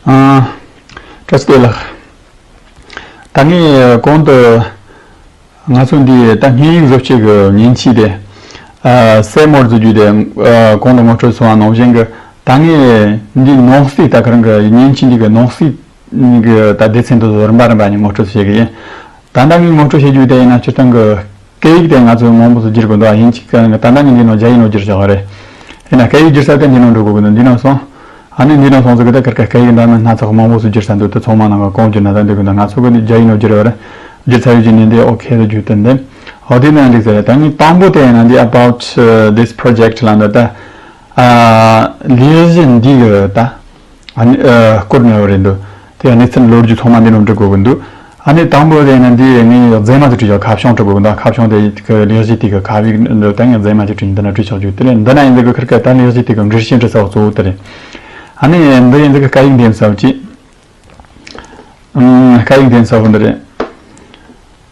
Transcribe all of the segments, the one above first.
བཀྲ་སྐད་ལགས། ད་ངས་གོང་དུ། ང་ཚོ་འདི་ད་སྙན་ཡིག་བཟོ་བྱེད་ཀྱི་ཉིན་མཆིས་ཏེ། སེར་མོར་བརྫུས་རྒྱུ་དེ་གོང་དུ་ངོ་སྤྲོད་སོང་བ་ནང་བཞིན་གྱི་ད་ངས་འདི་ནང་གསེས་ད་ག་རང་གི་སྙན་མཆིས་འདི་གི་ནང་གསེས་ཀྱི་ད་སྡེ་ཚན་དུ་རིམ་པ་རིམ་པ་ནས་ངོ་སྤྲོད་བྱེད་ཀྱི་ཡིན། ད་ད་ངས་ངོ་སྤྲོད་བྱེད་རྒྱུ་དེ་ཡིན་ན་སྤྱིར་བཏང་གི་སྐད་ཡིག་དེ་ང་ཚོས་མང་པོ་ཚུར་བསྒྱུར་དགོས་འདུག་ཨ་ཡིན་གཅིག་ད་ལྟ་ངས་འདི་ནང་རྒྱ་ཡིག་ནང་བསྒྱུར་ཆོག་ག་རེད། དེས་ན་སྐད་ཡིག་བསྒྱུར་ས་དེ་འདི་ནང་འགྲོ་དགོས་ཀྱི་འདུག་འདི་ནང་སོང། ཨ་ནི་འདི་ནང་སོང་ཚེ་གི་ད་གར་གི་སྐད་ཡིག་འདྲ་མིན་སྣ་ཚོགས་མང་པོ་ཚུར་བསྒྱུར་ས་འདུག་དེ་ཚོ་མང་ནང་ག་གང་བསྒྱུར་ན་ད་འདི་གི་ད་ང་ཚོ་གི་རྒྱ་ཡིག་ནང་བསྒྱུར་བ་རེད། བསྒྱུར་ཚར་ཡོད་ཀྱི་ནི་འདི ok དུ་བསྒྱུར་ཐུབ་འདུག་ཨོ་དེ་ནའང་འགྲིག་ས་རེད་ད་ངའི་དང་པོ་དེ་ཡིན་ན་འདི about this project ལ་འདི་ལྟ། ཨ། ལས་གཞི་འདི་གི་ད། ཨ་ནི། བསྐུར་ནས་ཡོད་རེད་འདུག་དེ་ཡང་གནས་ཚུལ་ལོ་རྒྱུས་ཐོག་མ་འདི་རྣམས་བྲི་དགོས་ཀྱི་འདུག་ཨ་ནི། དང་པོ་དེ་ཡིན་ན་འདི་ངས་ཡང་རྫས་མ་ཞིག་བྲིས་ཆོག་ཁ་བྱང་བྲི་དགོས་ཀྱི་འདུག་ཁ་བྱང་དེ་གི་ལེགས་བཤད་དེ་གི་ཁ་དབྱིག་འདི་ལྟར་ངས་རྫས་མ་ཞིག་བྲིས་འདི་ན་བྲིས་ཆོག་རྒྱུ་དེ་ལས་འདི་ན་ཡིན་ཟེར་གི་ཁར་སྐད་དང་ལེགས་བཤད་དེ་གི་འགྲེལ་བཤད་འབྲི་ས་བ་གཙོ་བོ་དེ་རེད། ཨ་ནི། འདི་ཡིན་ཟེར་གི་སྐད་ཡིག་འདི་ཡིན་ས་བ་ཅི། སྐད་ཡིག་འདི་ཡིན་ས་བ་འདི་རེད།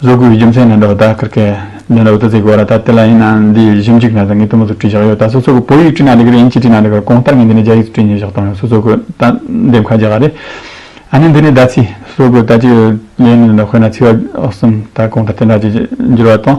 བཟོ་དགོས་པའི་རྒྱུ་མཚན་ནི་འདི་བ་ད་ཀིར་ཀའི་ལེན་རོགས་ད་ཚེ་གོ་ར་ད་དེ་ལ་ཡིན་ན་འདི་ཡིས་གཞི་འཇིག་ན་ད་ངས་དུ་མ་ཚོ་བྲིས་བཞག་ཡོད་ད་སོ་སོ་གི་བོད་ཡིག་བྲིས་ན་འདི་ཀིར་ཡིན་གྱིས་བྲིས་ན་འདི་ཀིར་གོང་ལྟར་ངས་འདི་ནས་རྒྱ་ཡིག་ཏུ་བྲིས་ཉོས་བཞག་ཏོང་ཡོད་སོ་སོ་གི་ད་འདེམས་ཁ་རྒྱག་ག་རེད་ཨ་ནི་འདི་ནས་ད་ཚི་སོ་སོ་གི་ད་ཅིག་ལེན་ནི་འདི་འདྲ་དཔེར་ན་ཚི་བ་གསུམ་ད་གོང་ལྟར་དེ་འདྲ་ཅིག་འགྱུར་བ་དང།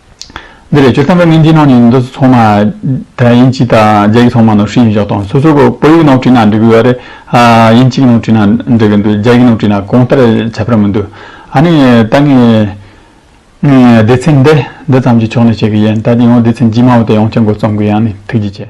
འདི་ལས་ཆོས་ཐམས་ཅད་སྨིན་གྱི་ནང་ནས་འདི་ཚོ་ཚང་མ་དགྲ་ཡིན་གཅིག་དང་རྒྱ་གི་ཚང་མ་ནོར་ཧྲིལ་ཡིན་བཞག་དང་སོ་སོ་གོ་བོད་ཡིག་ནང་བྲིས་ན་འགྲིག་གི་ཡོད་རེད་ཨ་ཡིན་གཅིག་ནང་བྲིས་ན་འགྲིག་གི་འདུག་རྒྱ་ཡིག་ནང་བྲིས་ན་གང་ལྟར་ཁྱབ་པར་མི་འདུག་ཨ་ནི་ད་ངས་སྡེ་ཚན་འདི་འདི་ཙམ་གྱི་ཕྱོགས་ནས་བཤད་གི་ཡིན་ད་དེ་ཡང་སྡེ་ཚན་རྗེས་མ་བ་དེ་ཡང་བསྐྱར་འགོ་རྩོམ་གི་ཡང་ནི་ཐུགས་རྗེ་ཆེ།